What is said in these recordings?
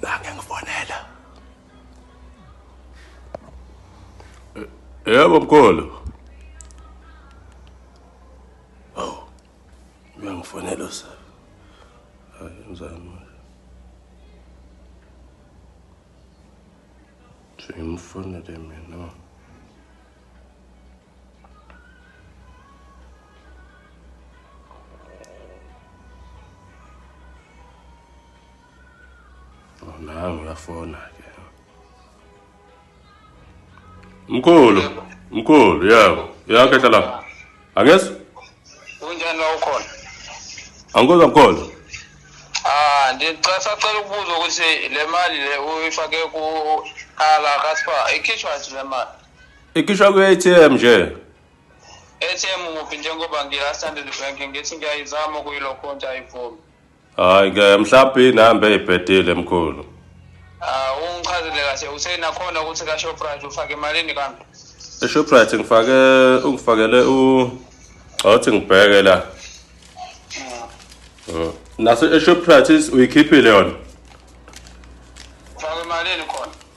Nange ngifonela. Yebo mkhulu. Oh. Uyangifonela usa. Hayi ngizama. Ngimfonele mina. Oh, nangu uyafona ke. Mkhulu, mkhulu, yebo. Uyakhehla la. Angezwa? Kunjani la ukhona? Angikuzwa mkhulu. Ah, ndicela sacela ukubuza ukuthi le mali le uyifake ku ala kaspa ikhishwa nje le mali. Ikhishwa ku ATM nje. ATM muphi njengoba ngila standard bank ngithi ngiyayizama kuyilokho nje ayivumi. Hayi ke mhlawumbe inamba eyibhedile mkhulu. Ah ungichazile kahle usena khona ukuthi ka Shoprite ufake malini kambe? E Shoprite ngifake ungifakele u awuthi ngibheke la. Mm. Naso e Shoprite uyikhiphile yona. Ufake malini khona?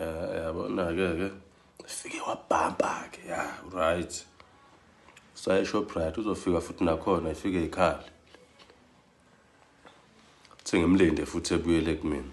Eh, yabona-ke ke fike wabhampa-ke ya right sayeshoprite uzofika futhi nakhona ifike ikhale thi ngimlinde futhi ebuyele kumina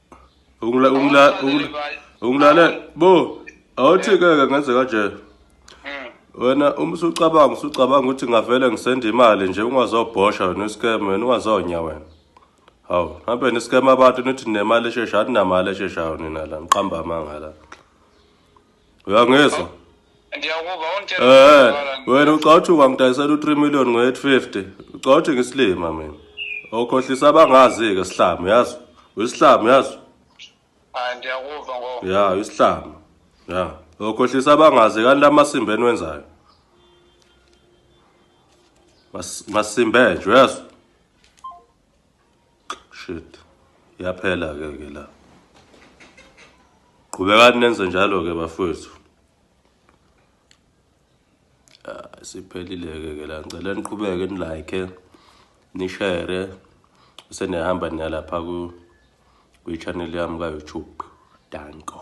Ungla ungla unglale bo awuthi ke ngenze kanje. Hmm. Wena uma usucabanga usucabanga ukuthi ngavele ngisende imali nje ungazobhosha wena scam wena ungazonya wena. Hawu, hambe niscam abantu nithi nemali esheshayo, aninamali esheshayo nina la, niqamba amanga la. uyangizwa ndiyakuva ungitshela Eh, wena ucawuthi wangidayisela u-3 million ngo-850 ucawuthi ngisilima mina okhohlisa abangazi-ke sihlamu yazi uyisihlamu yazi hayi ndiyakuva ngoba ya uyisihlamu ya okhohlisa abangazi kanti amasimba eniwenzayo Mas- masimbe nje uyazi Shit. Yaphela ke ke la. Qhubekani nenze njalo ke bafowethu. Ah, siphelile ke ke la. Ngicela niqhubeke ni like, ni share. Usenehamba niyalapha ku kwi channel yami ka YouTube. Danko.